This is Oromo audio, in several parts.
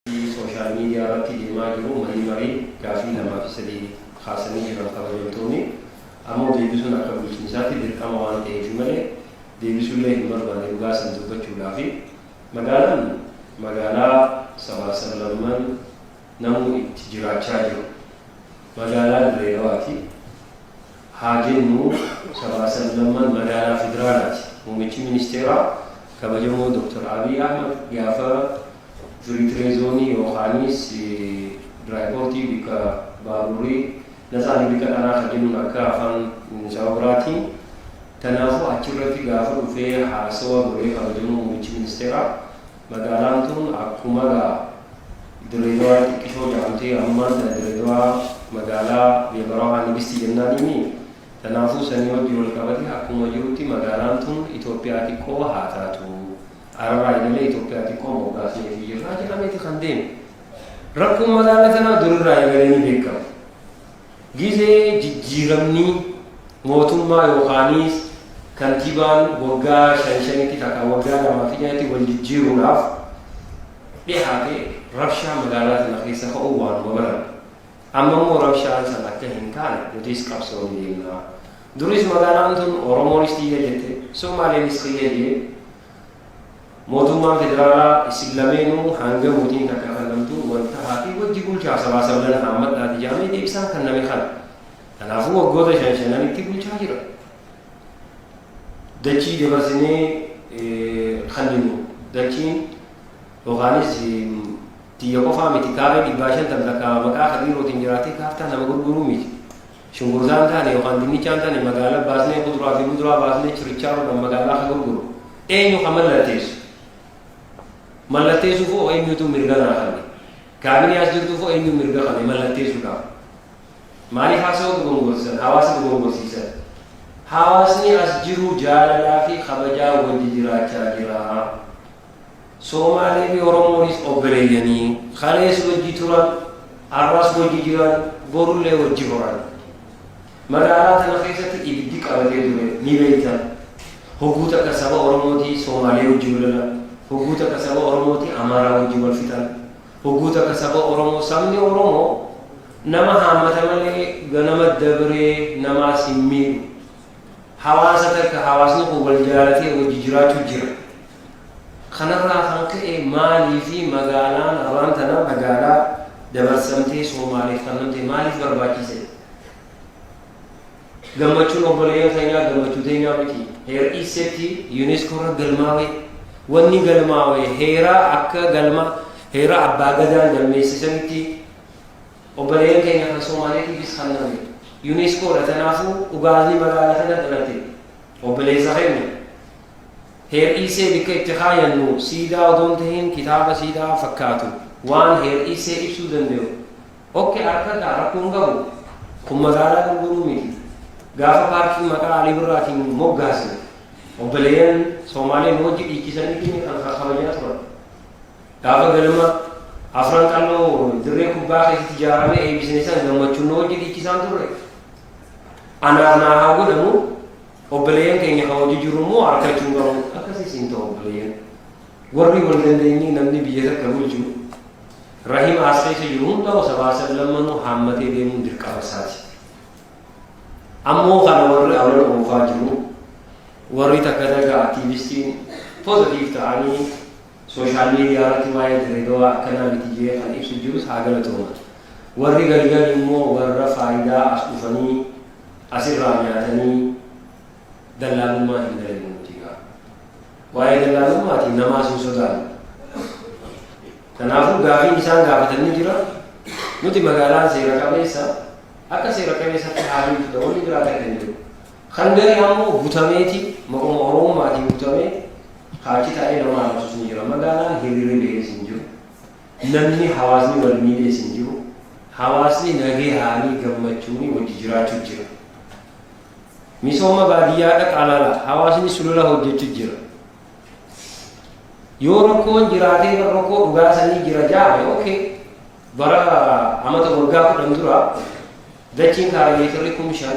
fi sooshaal miidiyaa irratti deemaa jiru marii marii gaafii lamaa fi sadii kaasanii jiran kabajamtooni ammoo deebisuun akka bulchiinsaatti dirqama waan ta'eefi malee deebisuullee hin barbaanne dhugaa san dubbachuudhaafi magaalaan magaalaa sabaaf sablamman namuu itti jiraachaa jiru magaalaa dirree dhawaati. haa jennu, sabaa sablamman magaalaa Federaalaati. Muummichi Ministeeraa kabajamoo Dr. Abiy Ahmad gaafa Firiitiree Zoonii yookaaniis Diraayipoortii bikka baaburrii naxaani bikka dharaa ka jennuun akka afaan saba biraatiin. Tanaafuu achirratti gaafa dhufee haasawa godhee kabajamoo Muummichi Ministeeraa, Magaalaan tun akku maga Dirree Dawaa xiqqishoo jedhamti ammaan tana Dirree Dawaa magaalaa biyya Barahaa Nigisti jennaaniini tanaafuu sanii wajji wal qabatee akkuma jirutti magaalaan tun Itoophiyaa xiqqoo haa taatu araraa eegalee Itoophiyaa xiqqoo moggaasneefii jirraa jedhameeti kan deeme rakkoon magaala tanaa durirraa eegalee ni beekama Gizee jijjiiramni mootummaa yookaaniis kantiibaan waggaa shan shanitti takka waggaa lama fixeetti wal jijjiiruudhaaf dhihaate rabshaa magaalaa tana keessa ka'uu waanuma barame. Amma immoo rabshaan san akka hin kaane nutis qabsoo ni deemna. Duris magaalaan tun Oromoonis tiyya jette, Somaaleenis kiyya jee, Mootummaan federaalaa isin lameenuu hanga murtiin takka kannamtu wal tahaatii wajji bulchaa sabaa sablan haammadhaati jaamee deebisaan kanname kana. Kanaafuu waggoota shan shananitti bulchaa jira. Dachii dabarsinee kanninu dachiin yookaanis tiyya qofaa miti kaaree dhibbaa shantam takka maqaa kadiirootiin jiraatee kaartaa nama gurguruu miti. Shunkurtaa hin taane yookaan dinnichaa hin taane magaala baasnee kuduraa fi muduraa baasnee chirichaaroodhaan magaalaa ka gurguru eenyu ka mallatteessu? Mallatteessuuf hoo eenyutu mirga naa kanne? Kaabinee as jirtuuf hoo eenyu mirga kanne mallatteessuudhaaf? Maaliif haasawaa dogongorsisan? Hawaasa dogongorsiisan. Hawaasni as jiru jaalalaa fi kabajaa wajji jiraachaa jira. Soomaalee fi Oromoonis obboleeyyanii. Kalees wajji turan, arras wajji jiran, borullee wajji horan. Magaalaa tana keessatti ibiddi qabatee ture, ni beektan. Hogguu takka saba Oromootii Soomaalee wajji wal lolan, hogguu takka saba Oromootii Amaaraa wajji wal fixan, hogguu takka saba Oromoo, sabni Oromoo nama haammata malee ganama dabree namaas hin miidhu. Hawaasa takka hawaasni kun wal jaalatee wajji jiraachuu jira. Kanarraa kan ka'e maaliif magaalaan arraan tana magaalaa dabarsamtee Soomaaleef kannamte maaliif barbaachise? Gammachuun obboleeyyan keenyaa gammachuu teenyaa miti. Heer Iisseetti Yuuneeskoo irra galmaawe. Wanni galmaawe heeraa akka galma heera abbaa gadaan galmeessisanitti obboleeyyan keenya kan Soomaaleetiifis kanname. Yuuneeskoodha tanaafuu dhugaasni magaalaa tana dhalate. Obboleessa keenya. Heer'iisee bikka itti kaayannu siidaa odoo hin tahin kitaaba siidaa fakkaatu waan heer'iisee ibsuu dandayu ok arkadha rakkoo hin qabu kun magaalaa gurguruu miti gaafa paarkiin maqaa Alii Birraatiin moggaasne obboleeyyan Soomaalee nu wajji dhiichisanitti ni kan kabajaa turan gaafa galma afran qalloo dirree kubbaa keessatti ijaaramee eebbisne san gammachuun nu wajji dhiichisaan turre anaaf naa haa godhamu Obboleeyyan keenya kan hojii jiru immoo harkachuu hin qabu. Akkasiis hin ta'u obboleeyyan. Warri wal dandeenyee namni biyya takka bulchu rahima as keessa jiru hundaa'u sabaa sablammanuu haammatee deemuun dirqama isaati. Ammoo kana warri awwala oofaa jiru warri takka takka aktiivistiin pozitiif ta'anii Social media irratti waa'ee Dirreedawaa akkanaa miti jedhee kan ibsu jirus haa galatoomatu. Warri galgale immoo warra faayidaa as dhufanii as irraa nyaatanii dallaalummaa hin dalagne nuti gaa. Waa'ee dallaalummaati namaas hin sodaannu. Kanaafuu gaafiin isaan gaafatan ni jira. Nuti magaalaan seera qabeessa akka seera qabeessatti haalli itti ta'u ni jiraata kan jiru. Kan gari ammoo butameeti maquma Oromummaatiin butamee Paarkii taa'ee nama arrabsus ni jira. Magaalaan hiriirri bahees hin jiru. Namni hawaasni wal miidhees hin jiru. Hawaasni nagahaanii gammachuunii wajji jiraachu jira. Misooma baadiyyaa dhaqaa laala. Hawaasni sulula hojjechu jira. Yoo rakkoon jiraatee bar rakkoo dhugaa sanii jira jaame okay. Bara amata waggaa kudhan dura dachiin kaarimeetirri kum shan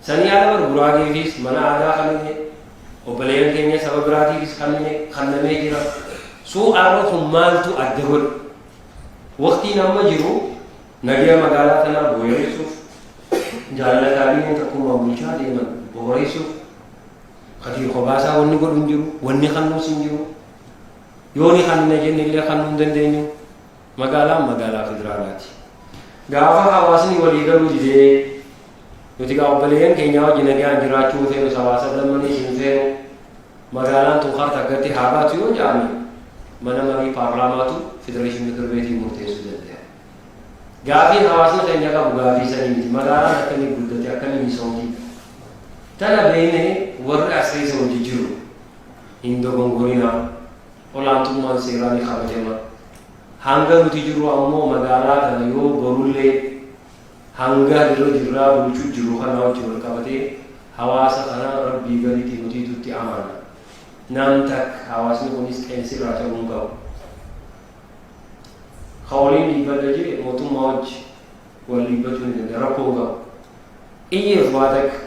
Sanii ala bar Guraageefiis mana aadaa kannine, obboleeyyan keenya saba biraatiifis kannine kannamee jira. So arra kun maaltu adda godhe? Waqtiin amma jiru nageya magaalaa tanaa booyareessuuf, jaalala kaabineen takkummaan bulchaa deeman booreessuuf, kadir kobaasaa wanni godhu hin jiru, wanni kannuus hin jiru. Yooni kannina jenne illee kannuu hin dandeenyu. Magaalaan magaalaa federaalaati. Gaafa hawaasni walii galuu didee, nuti gaa obboleeyyan keenyaa wajji nagaan jiraachuu hin feenu, sabaa sablammaniis hin feenu, magaalaan tun harka akkatti haa baatu yoo jedhame, mana marii paarlaamaatu federeeshin mikir beetiin murteessuu danda'a. Gaafii hawaasni keenya qabu gaafii sanii miti. Magaalaan akkamii guddate, akkamii misoomti. Tana beeknee warri as keessa hojii jiru hin dogongorinaa. olaantummaan seeraa ni kabajama. Hanga nuti jirru ammoo magaalaa kana yoo borullee hanga dirra jirraa bulchu jiru kanaa wajji wal qabatee hawaasa kana Rabbii gaditti nutiitu itti amaana. Nam tak hawaasni kunis qeensi irraa cabuu hin qabu. Ka waliin dhiibbadha jee mootummaa wajji wal dhiibbachuu ni danda'a rakkoo hin qabu. Iyyeef waa takka.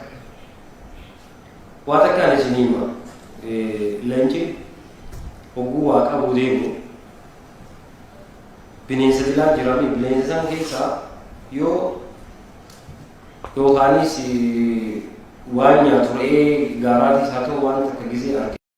Waa takkaan isinii hima, Leenci hogguu waa qabuu deemu bineensa dilaa jirami. Bineensa san keessaa yoo yookaanis waan nyaatu re'ee gaaraatiis haa ta'u waan takka gizee arge.